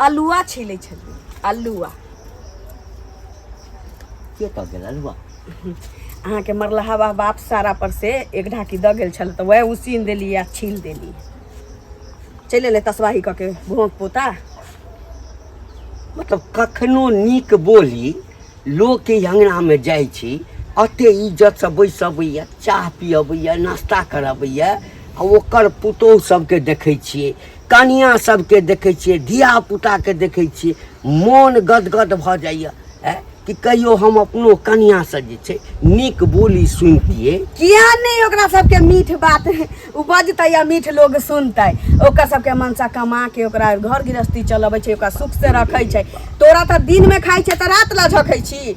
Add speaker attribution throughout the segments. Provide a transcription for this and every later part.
Speaker 1: अलुआ
Speaker 2: छीलै छलियै अलुआ के कह गेल अलुआ अहाँके
Speaker 1: मरलहा बाबा बाप सारा पर से एक ढाकी दऽ गेल छल तऽ वएह उसीन देलियै आ छील देलियै चलि एलै तसबाही कऽ के भोंक पोता
Speaker 2: मतलब कखनो नीक बोली लोकके अङ्गनामे जाइ छी एते इज्जतसँ बैस अबैए चाह पियबैए नाश्ता करबैए आ ओकर पुतोहु सभके देखै छियै कनिया सबके देखै छियै धिया पुताके देखै छियै मोन गदगद भऽ जाइए ऐ कि कहियो हम अपनो कनिया से जे छै नीक बोली सुनतियै किया नहि
Speaker 1: ओकरा सबके मीठ बात ओ बजतै या मीठ लोग सुनतै ओकर सबके मनसा कमा के ओकरा घर गृहस्थी चलबै छै ओकरा सुख से रखै छै तोरा तऽ दिन में खाइ छै तऽ रात ला झखै छी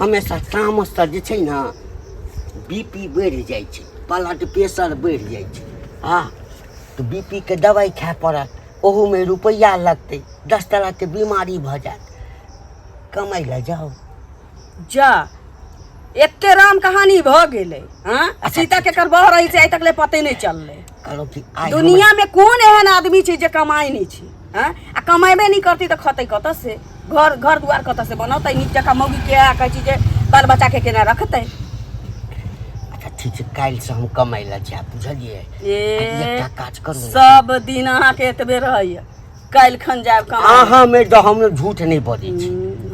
Speaker 2: हमेशा तामससँ जे छै ने बी पी बढ़ि जाइ छै ब्लड प्रेशर बढ़ि जाइ छै आ तऽ बी पी के दवाइ खाय पड़त ओहूमे रुपैआ लगतै दस तरहके बीमारी भऽ जायत कमाइ लए जाउ जा
Speaker 1: एते राम कहानी भऽ गेलै हँ आ सीता केकर बह रही से आइ तक ले पते नहि चललै करब कि आइ हमरा-
Speaker 2: दुनिया में कौन
Speaker 1: एहन आदमी छै जे कमाई नहीं छै हैं? आ कमेबे नहीं करती तो खतै कत से घर घर दुआर कत से बनतै नीक जकाँ मौगी के आ कहै छी जे बाल बच्चा के केना रखतै
Speaker 2: अच्छा ठीक छै काल्हि से हम कमाइ लए जायब बुझलियै आ एकटा ए काज करू ने। सब दिन अहाँ
Speaker 1: के एतबे रहैया काल्हि खन जायब कहाँ अहाँ में तो हम
Speaker 2: झूठ नहीं बजे छी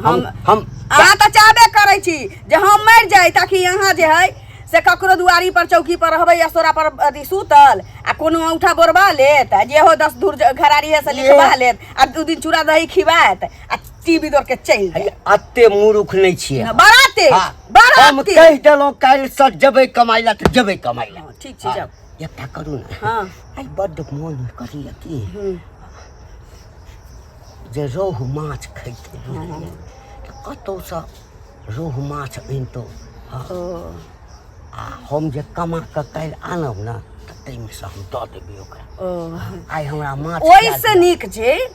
Speaker 2: हम हम हम अहाँ तऽ चाहबे
Speaker 1: करै छी जे हम मरि जाय ताकि अहाँ जे है से ककरो दुआरी पर चौकी पर रहबै या सोरा पर अथी सुतल आ कोनो औंठा बोरबा लेत आ जेहो दस धूर ज- घरारी है से ये- लिखबा लेत आ दू दिन चूड़ा दही खिबायत आ टीवी दौड़ के चलि जायत अरे, अते मूर्ख
Speaker 2: नहीं छिए न, बड़ा तेज हाँ,
Speaker 1: बड़ा हम तेज
Speaker 2: कह देलहुँ काल्हिसँ जेबै कमाइ लए तऽ जेबै कमाइ लए हँ, ठीक छै जाउ एकटा
Speaker 1: करू ने हँ
Speaker 2: आइ बड्ड
Speaker 1: मोन
Speaker 2: करिय कि हूँ जे रोहु माछ खैतै बुझलियै तऽ कतहुसँ रोहु माछ अनितहुँ हँ ओ आ हम जे कमा कऽ काल्हि आनब ने तऽ ताहिमे से हम दऽ देबै ओकरा ओ आइ हमरा माछ ओहिसँ नीक छै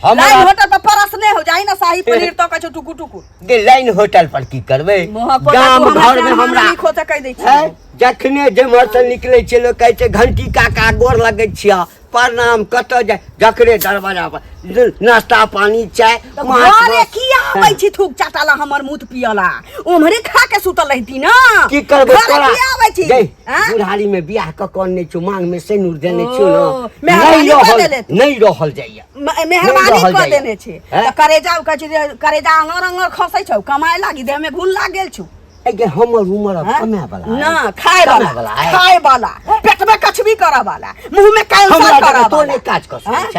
Speaker 2: लाइन हमारा होटल
Speaker 1: पर परस नहीं हो जाई ना शाही पनीर तो कछु टुकु टुकु दे लाइन होटल
Speaker 2: पर की करबे मोह को गाम तू घर में हमरा नहीं खोते कह दै है छी
Speaker 1: जखने जे
Speaker 2: मरसल निकले छै लोग कहै छै घंटी काका गोर लगै छिया प्रणाम कत जाय जखने दरवाजा पर न- नाश्ता पानी चाय तो माछ घरे मांस। की
Speaker 1: आबै छी थूक चाटाला हमर मुंह पियला उम्हरे खा के सुतल रहती ना की करबै घर तोरा
Speaker 2: की आबै छी जै
Speaker 1: आँय? बुढ़ारी में
Speaker 2: बियाह क कौन नहीं छो मांग में सेनुर देने छो ओ, ना मेहरबानी नहीं कऽ रहल देले तू। नहीं रहल जाइए म- नहीं मेहरबानी रहल कऽ जाइए।
Speaker 1: देने छी हैं? तऽ करेजा उका छी जे करेजा अङर अङर खसै छौ कमाए लागी देह में घुन लाग गेल छौ अगे हमर
Speaker 2: उम्र अब हैं? कमे वाला है। ना खाए कमे वाला
Speaker 1: वाला है। खाए वाला पेट में कछबी करऽ वाला मुंह में कैंसर हमरा करऽ जगह तो वाला नहीं काज कर हैं?
Speaker 2: सकते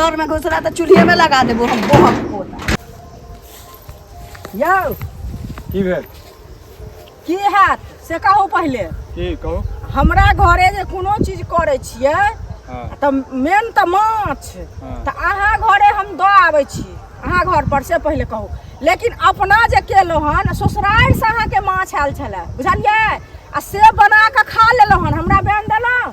Speaker 1: घर में घुसरा तो चूल्हे में लगा देबो हम बहुत पोता यौ की भेल
Speaker 3: की हैत से कहू पहिले की कहू
Speaker 4: हमरा घरे
Speaker 3: जे कोनो चीज करै छियै हँ तऽ
Speaker 4: मेन
Speaker 3: तऽ माछ हँ। तऽ अहाँ
Speaker 4: घरे
Speaker 3: हम दऽ आबै छी अहाँ घर पर से पहिले कहू लेकिन अपना जे केलहुँ हन ससुरारि से अहाँके माछ आयल छलै बुझलियै आ से बना कऽ खा लेलहुँ हन हमरा बेन देलहुँ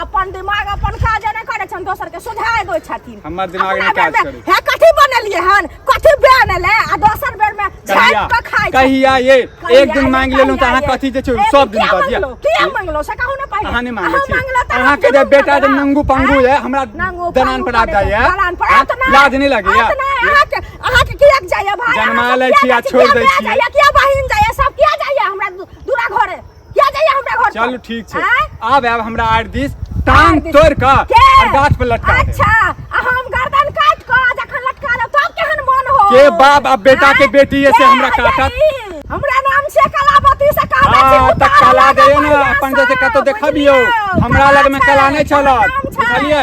Speaker 3: अपन दिमाग अपन काज नहि करै छन दोसर के सुझाय दै छथिन हमर दिमाग नहि काज
Speaker 4: करै हे कथि बनेलिए
Speaker 3: हन कथि बन एले आ दोसर बेर में झाट के खाय
Speaker 4: कहिया
Speaker 3: ये एक
Speaker 4: दिन मांग लेलु
Speaker 3: त अहाँ
Speaker 4: कथि
Speaker 3: जे
Speaker 4: छै सब दिन
Speaker 3: पर
Speaker 4: दिया के मांगलो
Speaker 3: से
Speaker 4: कहू
Speaker 3: न पाई अहाँ नहि मांगे छी
Speaker 4: अहाँ के जे बेटा
Speaker 3: जे
Speaker 4: नंगू पंगू है
Speaker 3: हमरा
Speaker 4: दनान पर आ
Speaker 3: जाय है
Speaker 4: लाज
Speaker 3: नहीं लगे
Speaker 4: या
Speaker 3: अहाँ
Speaker 4: के
Speaker 3: अहाँ के किया जाय भाई जन्मा ले छी आ छोड़
Speaker 4: दे
Speaker 3: छी
Speaker 4: किया बहिन
Speaker 3: जाय सब किया जाय हमरा दूरा घरे किया जाइए हमरा घर चलू ठीक छै
Speaker 4: आब आब हमरा
Speaker 3: आर
Speaker 4: दिस टांग तोड़ के और गाछ पर
Speaker 3: लटका
Speaker 4: अच्छा हम
Speaker 3: गर्दन काट के जखन लटका लो तब केहन मन हो के बाप अब बेटा
Speaker 4: के बेटी है से हमरा
Speaker 3: काटत
Speaker 4: हमरा नाम
Speaker 3: से कलावती से कहा छै हां त कला दे
Speaker 4: ना
Speaker 3: अपन
Speaker 4: जैसे कतो
Speaker 3: देखबियो
Speaker 4: हमरा लग में
Speaker 3: कला नै
Speaker 4: छला बुझलिए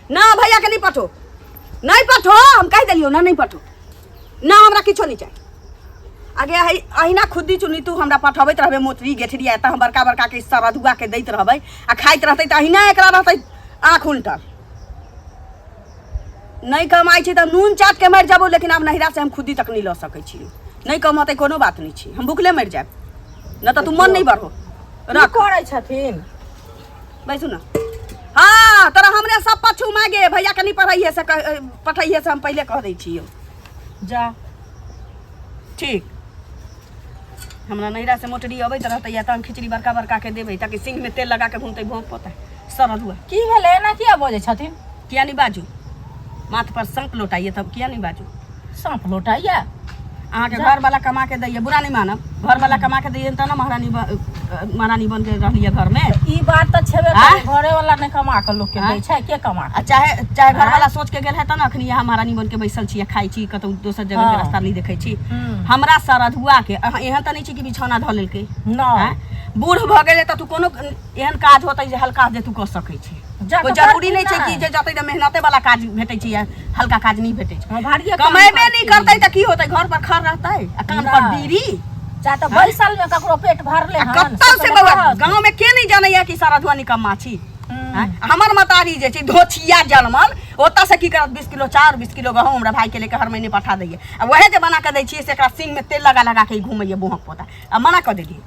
Speaker 3: ना भैया के नहीं पठो
Speaker 1: नहीं पठो हम कह दिलियो ना नहीं पठो ना हमरा किछो नहीं चाहिए आगे अहि अहिना खुद्दी चुनी तू हमरा पठबैत रहबे मोतरी गेठरी एतऽ हम बड़का बड़का के हिस्सा रधुआ के दैत रहबै आ खाइत रहतै तऽ अहिना एकरा रहतै आँख उल्टल नहीं कमाई छी तऽ नून चाट के मरि जाबो लेकिन आब नहिरा से हम खुद्दी तक नहीं लऽ सकै छी नहीं कमतै कोनो बात नहीं छी हम भुखले मरि जायब न तऽ तू मन नहीं बढ़ो रख करै
Speaker 3: छथिन बैसू
Speaker 1: ना हाँ तोरा हमरे सब पछू मागे भैया कनी पढ़ाइए से कह- पठाइए से हम पहले कह दै छियो जा ठीक हमरा नैरा से मोटरी अबैत रहतै या तऽ हम खिचड़ी बड़का बड़का के देबै ताकि सिंह में तेल लगा के घूमतै भोंक पोतै सरल हुआ की भेलै एना किया
Speaker 3: बजै छथिन किया नहीं बाजू
Speaker 1: माथ पर सांप लौटाइए तब किया नहीं बाजू सांप लौटाइए अहाँ के घर वाला कमा के दैए बुरा नहीं मानब घर वाला कमा के दैए तो ना महारानी महारानी बन के रहिए घर में ई बात तो छेबे करे
Speaker 3: घरे वाला नहीं कमा के लोग के दै छै के कमा आ चाहे चाहे घर वाला सोच
Speaker 1: के गेल है त ना अखनी यहाँ महारानी बन के बैसल छी खाई छी कतौ दोसर जगह के रास्ता नहीं देखे छी हम्म। हमरा सरधुआ के एहन त नहीं छी कि बिछौना धऽ लेलकै ना
Speaker 3: बूढ़ भऽ गेलै
Speaker 1: तऽ तू कोनो एहन काज होतै जे हल्का जे तू कऽ सकै छी जा कोई तऽ जरूरी करथिन नहि छै ने। कि जे जतै तऽ मेहनते वाला काज भेटै छै या हल्का काज नहि भेटै छै हँ, भारिये काम कमेबे नहि करथिन। करतै तऽ की होतै घर पर खड़ रहतै आ कान पर नहि। बीड़ी जा तऽ बैसल
Speaker 3: में ककरो पेट भरले आ हन कत्तल से से बौआ रहत।
Speaker 1: गाँव में के नहीं जानैया कि सारा धुआ निकम्मा छी हम्म। हैं? हमर मतारी जे छै धोछिया जलमल ओतऽ से की करत बीस किलो चाउर बीस किलो गहूँम हमरा भाई के लेके हर महीने पठा दैया आ वएह जे बना कऽ दै छियै से एकरा सिंग में तेल लगा लगा के ई घूमैया बुहक पोता आ मना कऽ देलियै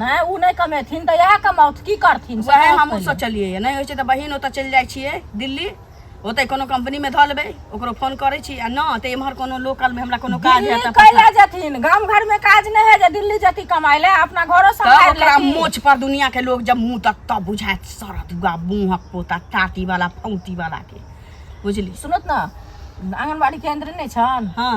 Speaker 3: नहि ओ नहि कमेथिन तऽ इएह कमाउथ की करथिन वएह सएह हमहूँ पहिले। सोचलियै
Speaker 1: नहि होइ छै तऽ बहिन ओतऽ चलि जाइ छियै दिल्ली ओतै कोनो कंपनीमे धऽ लेबै ओकरो फोन करै छी आ नहि तऽ एम्हर कोनो लोकलमे हमरा कोनो काज दिल्ली हेतै कैला जथिन गाम
Speaker 3: घर में काज नहीं है जे दिल्ली जती कमाए ले अपना घरो तब संभाल ओकरा लेती मोच पर
Speaker 1: दुनिया
Speaker 3: के
Speaker 1: लोग जब मुंह तक तब बुझायत सरत हुआ मुंहक पोता टाटी वाला फौती वाला के बुझली सुनत ना
Speaker 3: आंगनबाड़ी केंद्र नहीं छन हाँ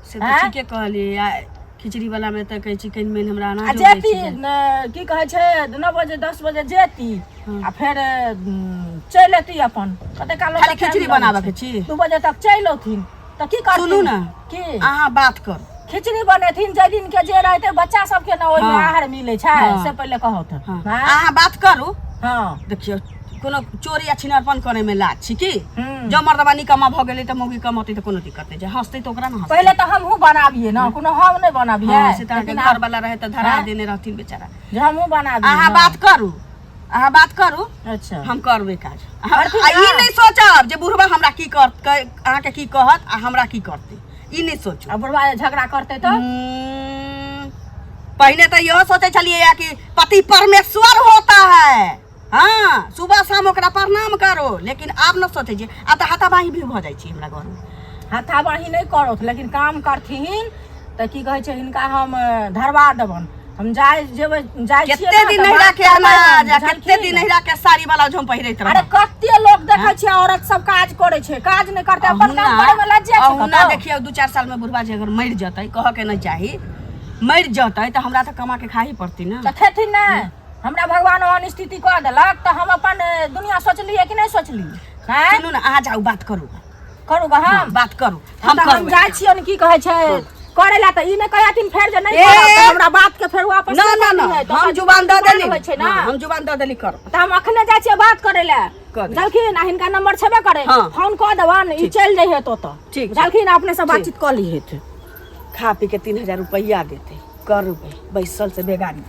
Speaker 3: से तऽ आँय? ठीके
Speaker 1: कहलियै आ खिचड़ी वाला मे तऽ कहै छी कनि मनि हमरा आ अनाजो दै जेती छी जाय। न,
Speaker 3: की कहै छै नओ बजे दस बजे जेती हँ। आ फेर उम, चलि एती अपन कते काल खाली ओतऽ खिचड़ी टाइम बनाबऽ लगै के
Speaker 1: छै। छी? दू बजे तक चलि औथिन
Speaker 3: तऽ की करथिन सुनू ने। की
Speaker 1: अहाँ बात
Speaker 3: कर
Speaker 1: खिचड़ी बनेथिन
Speaker 3: जाहि दिन के जे रहते बच्चा सबके ने ओहिमे हँ। आहार मिलै छै हँ। से पहिले कहौथ हँ। हँ अहाँ बात
Speaker 1: करू हँ देखियौ
Speaker 3: कोनो
Speaker 1: चोरी आ छिनरपन करे में लाज छी की हम्म। जब मर्दबा निकम्मा भ गेलै त मौगी कमतै त कोनो दिक्कत नै छै हंसतै त ओकरा न हंसतै पहिले तो हमहू बनाबिए
Speaker 3: ना कोनो हम नहीं बनाबिए हाँ, से त अहाँके घर वाला
Speaker 1: रहे त धरा हाँ। देने रहथिन बेचारा जे हमहू बनाबिए अहाँ
Speaker 3: ना। बात करू
Speaker 1: अहाँ बात करू अच्छा हम करबे
Speaker 3: काज
Speaker 1: हम- करथिन आ ई ना। नहि सोचब जे बुढ़बा हमरा की कर कै- अहाँके की कहत आ हमरा की करतै ई नहि सोचू अब बुढ़वा जे झगड़ा करते
Speaker 3: तो हम्म,
Speaker 1: पहिने तऽ इहो सोचै छलियै कि पति परमेश्वर होता है हँ सुबह शाम ओकरा प्रणाम करो लेकिन आब ने सोचै छियै आ तऽ हाथाबाही भी भऽ जाइ छै हमरा घरमे हाथाबाही नहि
Speaker 3: करत लेकिन काम करथिन तऽ की कहै छै हिनका हम धरबा देबनि हम जाइ जेबै जाइ कते दिन नहिरा के
Speaker 1: अनाज कते दिन नहिरा के साड़ी वाला जो हम पहिरैत रहब अरे कते लोग देखै
Speaker 3: हाँ? छै औरत सब काज करै छै काज नहि करते अपन काम करै में लज जाय छै अहुना देखियो दू चार साल में
Speaker 1: बुढ़वा जे अगर मरि जतै कह के नहि चाही मरि जतै तऽ हमरा तऽ कमा के खाही पड़ती ने तऽ खेथिन नहि
Speaker 3: हमरा भगवान ओहन स्थिति कऽ देलक तऽ हम अपन ए, दुनिया सोचलियै कि नहि सोचलियै आँय? सुनू ने अहाँ जाउ बात
Speaker 1: करू करू गऽ हम हम
Speaker 3: बात करू हम हम तऽ
Speaker 1: हम जाइ छियै
Speaker 3: ने की कहै छै करे ला तऽ ई नहि कहै हथिन फेर जे नहि ए! करब तऽ हमरा बात के फेर वापस ना ना ना करबै, तऽ हम ओकर
Speaker 1: जुबान दऽ जुबान देली होइ छै ना हाँ, हम जुबान
Speaker 3: दऽ देली कर
Speaker 1: तऽ हम अखने जाइ छियै
Speaker 3: बात करे ला कऽ दे। जलखिन आ हिनका नंबर छेबे करे हाँ। फोन कऽ देबन ई चलि जाइ हेत ओतऽ ठीक छै। जलखिन अपने
Speaker 1: से बातचीत
Speaker 3: कऽ ली हेत खा पी के
Speaker 1: तीन हजार रुपया देते करबे बैसल से बेगारी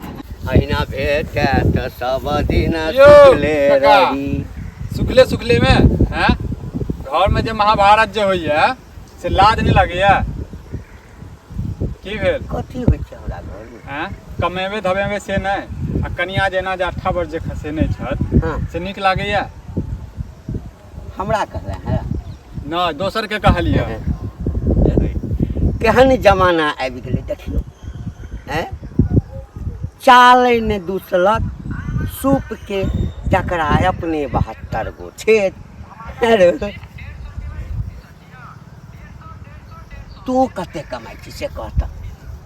Speaker 1: अहिना
Speaker 2: भेटे त सब दिन यो, सुखले
Speaker 4: काका। रही
Speaker 2: सुखले सुखले
Speaker 4: में हैं घर में जे महाभारत जे होइए से लाज नहीं लगैए की भेल कथी होइ छै
Speaker 2: हमरा घर में हैं कमेबे
Speaker 4: धमेबे से नहीं आ कनिया जेना जे अट्ठा वर्ष जे खसे नहीं छत हाँ। से नीक लागैए
Speaker 2: हमरा कहला है नहि दोसरके
Speaker 4: कहलियै
Speaker 2: केहन जमाना आबि गेलै देखियौ आँय चालै ने दूसलक सूपके जकरा अपने बहत्तर गो छेद अरे तू कते कमाइ छी से कह तऽ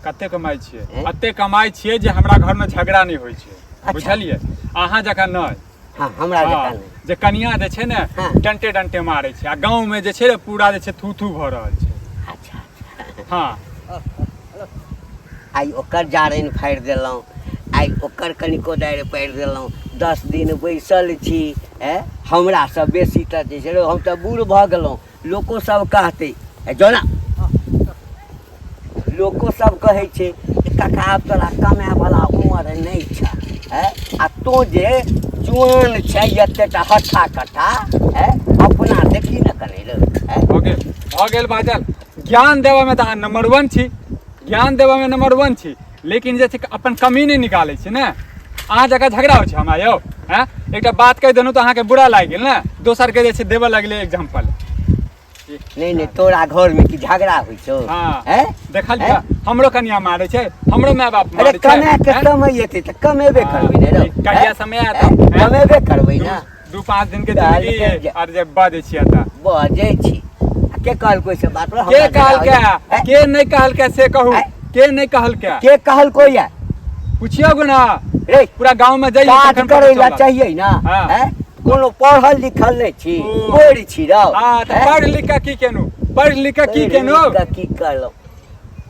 Speaker 2: कते कमाइ
Speaker 4: छियै एँ? एते कमाइ छियै जे हमरा घरमे झगड़ा नहि होइ छै अच्छा। बुझलियै अहाँ जकाँ नहि हाँ हमरा हाँ,
Speaker 2: जकाँ नहि जे कनिया जे छै ने
Speaker 4: हाँ। डंटे डंटे
Speaker 2: मारे
Speaker 4: छै आ गांव में जे छै ने पूरा जे छै थू थू भ रहल छै अच्छा अच्छा हाँ
Speaker 2: आइ ओकर जारनि फाड़ि देलहुँ आइ ओकर कनि कोदारि पाड़ि देलहुँ दस दिन बैसल छी ए हमरासँ बेसी तऽ जे छै हम तऽ बूढ़ भऽ गेलहुँ लोको सब कहते ए जोना लोको सब कहे छे जे काका आब तोरा कमे वाला उम्र नहीं छ है आ तो जे जुआन छै जते टा हट्ठा कट्ठा है अपना देखी न कने लो है हो गेल हो गेल
Speaker 4: बाजल ज्ञान देबऽ में तऽ अहाँ नंबर वन छी ज्ञान देबऽ में नंबर वन छी लेकिन जे छै अपन कमी नहि निकालै छै ने अहाँ जगह झगड़ा होइ छै हमरा यौ हैं एकटा बात कहि देलहुँ तऽ अहाँके बुरा लागि गेल ने दोसरके जे छै देबऽ लगलै एग्जाम्पल
Speaker 2: नहि नहि तोरा घरमे की झगड़ा होइ छौ हाँ। हैं? देखल
Speaker 4: हैं? हमरो कनिया मारै छै हमरो माय बाप अरे मारै छै कमाए के हैं?
Speaker 2: कमाइ
Speaker 4: एतै
Speaker 2: तऽ कमेबे करबै ने रौ कहिया समय आएत, हैं?
Speaker 4: हैं? कमेबे करबै
Speaker 2: ने दू पाँच दिन के काल्हि
Speaker 4: छुट्टी के जा- और जब बाजे छिया ता बजै छी
Speaker 2: आ के कहलको से बात रे, के हमरा कहल के जेना
Speaker 4: होइए। ए, के नहीं कहल के से कहू ए। के नहीं कहल के के कहलको या
Speaker 2: पूछियो गो ना
Speaker 4: रे पूरा गांव
Speaker 2: में जाइए काज
Speaker 4: तखन पता करै ला चलत। चाहिए
Speaker 2: ना हाँ। हैं? कोनो पढ़ल लिखल नहि छी ओ। बोरि छी रौ हाँ तो हैं? पढ़ लिख के
Speaker 4: की केनु पढ़ लिख के की पढ़ि केनु लिख कऽ की करलौ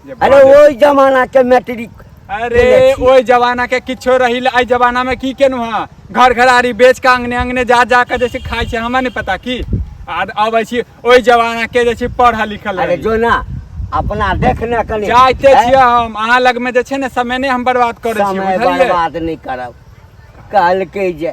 Speaker 2: जे अरे बाजे- ओहि जमाना के मैट्रिक अरे
Speaker 4: ओहि जमाना के किछो रही एहि जमाना में की केनु हाँ घर घरारी बेच के अंगने अंगने जा जा के जैसे खाई छै हमरा नहीं पता की आर अब ऐसी ओहि जमाना के जैसे पढ़ल लिखल अरे रही जो ना
Speaker 2: अपना देखने कनी जाइते हैं? छियै हम
Speaker 4: अहाँ लग में जे छै ने समय ने हम बर्बाद करै समय छियै बुझलियै बर्बाद नहीं
Speaker 2: करब कहलकै जे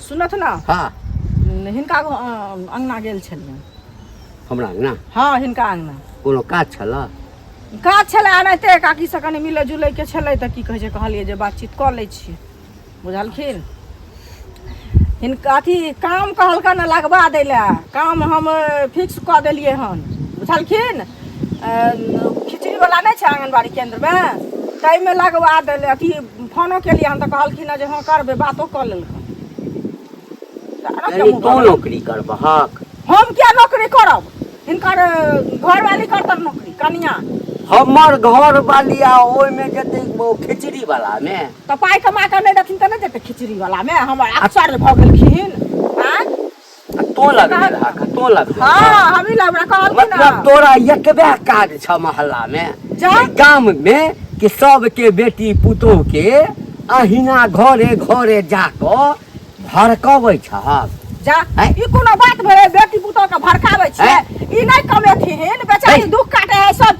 Speaker 2: सुनत ने
Speaker 3: हाँ हिनका अंगना गेल छलियन हमरा अंगना
Speaker 2: हाँ हिनका अंगना
Speaker 3: कोनो काज छल
Speaker 2: काज छल
Speaker 3: एनाहिते काकी से कनि मिले जुले के छल तऽ की कहे कहलिए जे बातचीत कर ले छी बुझलखिन हिनका अथी काम कहलका ने लगवा दै लए काम हम फिक्स कऽ देलियै हन बुझलखिन खिचड़ी वाला नहीं छै आंगनबाड़ी केंद्र में ताहिमे लगवा देले अथी फोनो केलियै हन तऽ कहलखिन हँ जे हँ करबै बातो कऽ लेलखिन तऽ अरब यानी
Speaker 2: जम्मू तू करबै। नौकरी करबहक हम किया नौकरी
Speaker 3: करब हिनकर अ, घरवाली करतन नौकरी कनिया हमर
Speaker 2: घर वाली आ ओहिमे जेतै ओ खिचड़ी वाला मे तऽ पाइ कमा कऽ नहि
Speaker 3: देथिन तऽ नहि देतै खिचड़ी वाला मे हमर अक्सर भऽ गेलखिन आँय तो
Speaker 2: लग ले रहा का तो लग ले हां हम ही लग
Speaker 3: रहा कहल मतलब तोरा
Speaker 2: एकबे काज छ मोहल्ला में जा गांव में कि सब के बेटी पुतो के अहिना घरे घरे जाको भड़कबै छ जा ई
Speaker 3: कोनो बात भरे बेटी पुतो के भड़काबै छै ई नै कमेथिन बेचारी दुख काटे है सब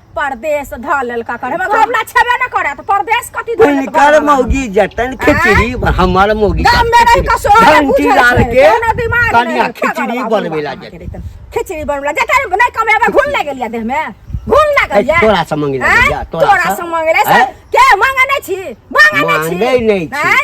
Speaker 2: परदेश धऽ
Speaker 3: लेलका करे मगर हमरा छेबे न करे तऽ परदेश कथी धऽ लेलका उनकर मौगी
Speaker 2: जतन खिचड़ी ब- हमर मौगी गाम में रहि कऽ
Speaker 3: सोहे
Speaker 2: घंटी बुझल डाल
Speaker 3: छै, के कोनो
Speaker 2: दिमाग नहि
Speaker 3: कनिया रहै,
Speaker 2: खिचड़ी
Speaker 3: खगड़वा बनबे
Speaker 2: बुढ़वा ला के
Speaker 3: जेतै रहै। खिचड़ी बनबला जते नहि कमेबे घुन लग गेलिया देह में घुन लग ऐ, गेलिया तोरा से मंगि लए आँय? गेलिया,
Speaker 2: तोरा तोरा से। से मंगले
Speaker 3: से ऐ? के मंगे नहि छी मंगे नहि छी मांगै
Speaker 2: नहि छी। आँय?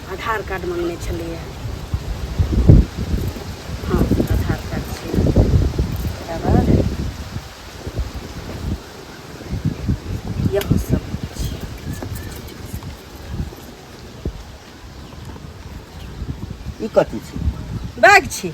Speaker 1: आधार कार्ड मङ्गने छलैए हँ आधार कार्ड छै तकरा बाद यहाँ सब छै
Speaker 2: ई कथी छी बैग छी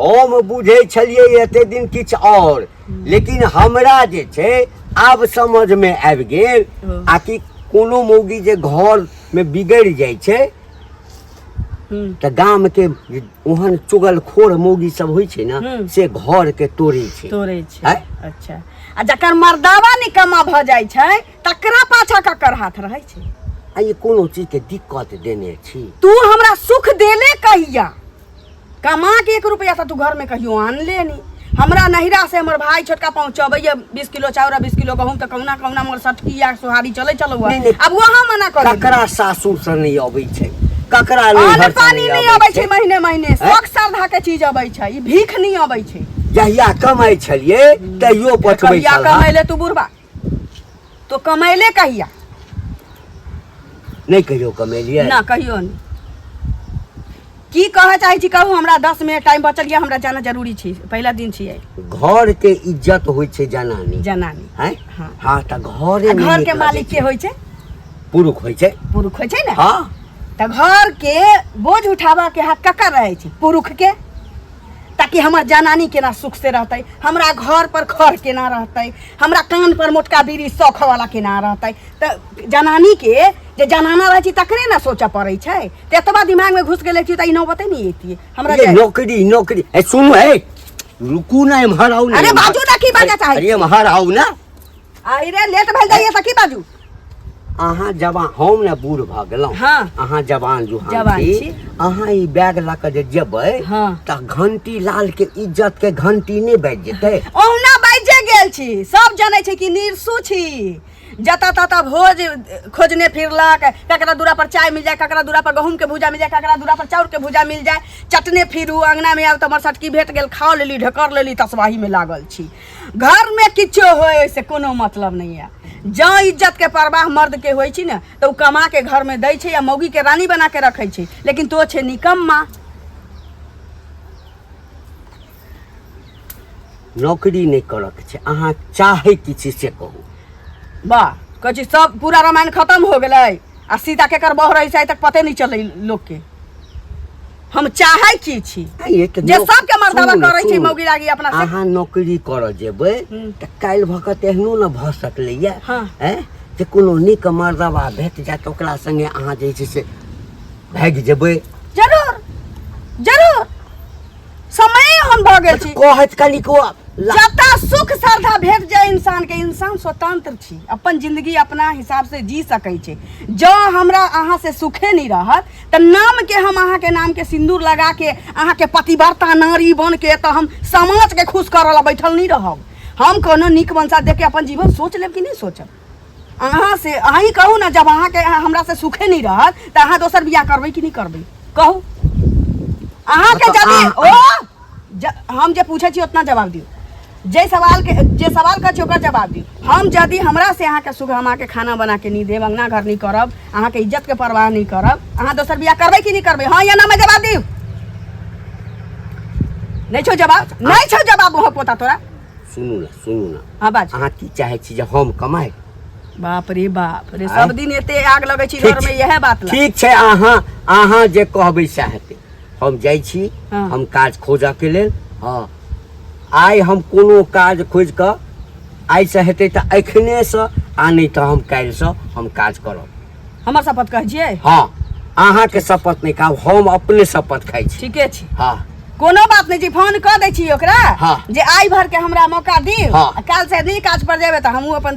Speaker 2: हम बुझै छलियै एते दिन किछु आओर लेकिन हमरा जे छै आब समझमे आबि गेल आ कि कोनो मौगी जे घरमे बिगड़ि जाइ छै तऽ गामके ओहन चुगलखोर मौगी सब होइ छै ने से घरके तोड़ै छै तोड़ै छै अच्छा
Speaker 1: आ जकर मर्दावा निकम्मा भऽ जाइ छै तकरा पाछा ककर हाथ रहै छै आ ई कोनो
Speaker 2: चीजके दिक्कत देने छी तू हमरा सुख
Speaker 1: देले कहिया कमा के एक रुपया तो तू घर में कहियो आन लेनी हमरा नहिरा से हमर भाई छोटका पहुंचबैया बीस किलो चाउर आ बीस किलो गहूम तो कौना कौना मोर सटकिया सोहारी चले चलो नहीं, नहीं। अब वहाँ मना कर ककरा सासुर से
Speaker 2: नहीं अबै छै ककरा अन्न नैहर से पानी नहीं नहीं
Speaker 1: अबै अबै छै छै महीने महीने शौक श्रद्धा के चीज अबै छै ई भीख नहीं अबै छै जहिया कमाइ
Speaker 2: छलियै तैयो पठबै कहिया छलहा कमैले तू
Speaker 1: बुढ़बा तो कमैले कहिया
Speaker 2: नहीं कहियो कमेलिए ना कहियो नहीं
Speaker 1: की कहऽ चाहै छी कहू हमरा दस मिनट टाइम बचल यऽ हमरा जाना जरूरी छै पहिला दिन छियै घर के
Speaker 2: इज्जत होय छे जनानी जनानी हैं
Speaker 1: हाँ। हाँ त
Speaker 2: घरे आ में घर के निकलऽ मालिक के दै होइ छै
Speaker 1: छै। पुरुष होय छे
Speaker 2: पुरुष होइ छै ने हाँ
Speaker 1: तऽ
Speaker 2: घर
Speaker 1: के बोझ उठाबऽ के हाथ ककर रहै छै पुरुष के ताकि हमर जनानी केना सुख से रहते हमरा घर पर खर केना रहते हमरा कान पर मोटका बीड़ी सौख वाला केना रहते तऽ जनानी के जे जनाना रहै छी तकरे ने सोचऽ पड़ै छै तऽ एतबा दिमाग में घुस गेले छी तऽ ई नौबते नहीं एतियै हमरा ये जाय- नौकरी नौकरी
Speaker 2: ए सुनो है रुकू ना इम्हर आओ ना अरे इम्हर। बाजू ना की बाजऽ
Speaker 1: चाहै अरे इम्हर आओ ना
Speaker 2: आई रे
Speaker 1: लेट भइल जाइए सखी बाजू अहाँ
Speaker 2: जवान हम ने बूढ़ भऽ गेलहुँ हाँ। अहाँ जवान
Speaker 1: जुहान
Speaker 2: जवान छी। छी अहाँ ई बैग लऽ कऽ जे जेबै हाँ। तऽ घंटी लाल के इज्जत के घंटी नहि बाजि जेतै ओहुना बाजे
Speaker 1: गेल छी सब जनै छै कि निरसू छी जतऽ ततऽ भोज खोजने फिरलक ककरा दूरा पर चाय मिल जाए ककरा दूरा पर गहूम के भूजा मिल जाए ककरा दूरा पर चाउर के भूजा मिल जाए चटने फिरू अंगना में आउ तऽ हमर सटकी भेट गेल खा लेली ढकर लेली तसबाही में लागल छी घरमे किछो होइ ओहिसँ कोनो मतलब नहि यऽ जँ इज्जतके परवाह मर्दके होइ छै ने तऽ ओ कमाके घरमे दै छै आ मौगीके रानी बनाके रखै छै लेकिन तो छै निकम्मा
Speaker 2: नौकरी नहि करऽके छै अहाँ चाहै की छी से कहू वाह
Speaker 1: कहै छी सब पूरा रामायण खतम हो गेलै आ सीता केकर बह रहै छै आइ तक पते नहि चलै लोकके हम चाहे की छी आ, ये तऽ जे नौक- सबके मर्दवा सुनू ने, करै छै सुनू। मौगी लागी अपना से अहाँ नौकरी करऽ
Speaker 2: जेबै हम्म। तऽ काल्हि भऽ कऽ तऽ एहनो ने भऽ सकलैया हाँ। हैं जे कोनो नीक मर्दबा भेट जायत ओकरा संगे अहाँ जे छै से भागि जेबै जरूर
Speaker 1: जरूर समय हम भऽ गेल छी कहत कनिक ओ
Speaker 2: ला- जतऽ
Speaker 1: सुख श्रद्धा भेट जाए इंसान के इंसान स्वतंत्र छी अपन जिंदगी अपना हिसाब से जी सकै छै जँ हमरा अहाँ से सुखे नहि रहत तऽ नामके हम अहाँके नामके सिन्दूर लगाके अहाँके पतिव्रता नारी बनके तऽ हम समाजके खुश करऽ लए बैठल नहि रहब हम कोनो नीक मनसा देखके अपन जीवन सोच लेब कि नहि सोचब अहाँ से अहीं कहू ने जब अहाँके हमरा से सुखे नहि रहत तऽ अहाँ दोसर बियाह करबै कि नहि करबै कहू अहाँके मतलब जदि अहाँ- ओ ज, हम जे पूछे छी उतना जवाब दियो जे सवाल के जे सवाल कर छी ओकर जवाब दियो हम यदि हमरा से अहाँ के सुख हम अहाँ के खाना बना के नहीं देब अंगना घर नहीं करब अहाँ के इज्जत के परवाह नहीं करब अहाँ दोसर बियाह करबे कि नहीं करबे हाँ या ना में जवाब दियो नहीं छो जवाब नहीं छो
Speaker 2: जवाब वहाँ
Speaker 1: पोता तोरा सुनू
Speaker 2: ना सुनू
Speaker 1: ना
Speaker 2: हाँ बाज अहाँ की चाहे
Speaker 1: छी जे
Speaker 2: हम कमाए बाप
Speaker 1: रे बाप रे आँय? सब दिन एते आग लगे
Speaker 2: छी
Speaker 1: ठीक घर में छै। यह बात ला ठीक
Speaker 2: छै
Speaker 1: अहाँ
Speaker 2: अहाँ जे कहबै सएह हेतै हम जाइ छी हँ। हम काज
Speaker 1: खोजऽके
Speaker 2: लेल हँ आइ हम कोनो काज खोजि कऽ आइसँ हेतै तऽ एखनेसँ आ नहि तऽ हम काल्हिसँ हम काज करब हमर शपथ कहै
Speaker 1: छियै हँ अहाँके
Speaker 2: शपथ नहि खाब हम अपने शपथ खाइ छी ठीके छै हँ
Speaker 1: कोनो
Speaker 2: बात नहि छै
Speaker 1: फोन कऽ दै छी ओकरा हँ। जे आइ भर
Speaker 2: के हमरा
Speaker 1: मौका दी हँ। काल्हि से नहि काज
Speaker 2: पर
Speaker 1: जेबै तऽ हमहूँ अपन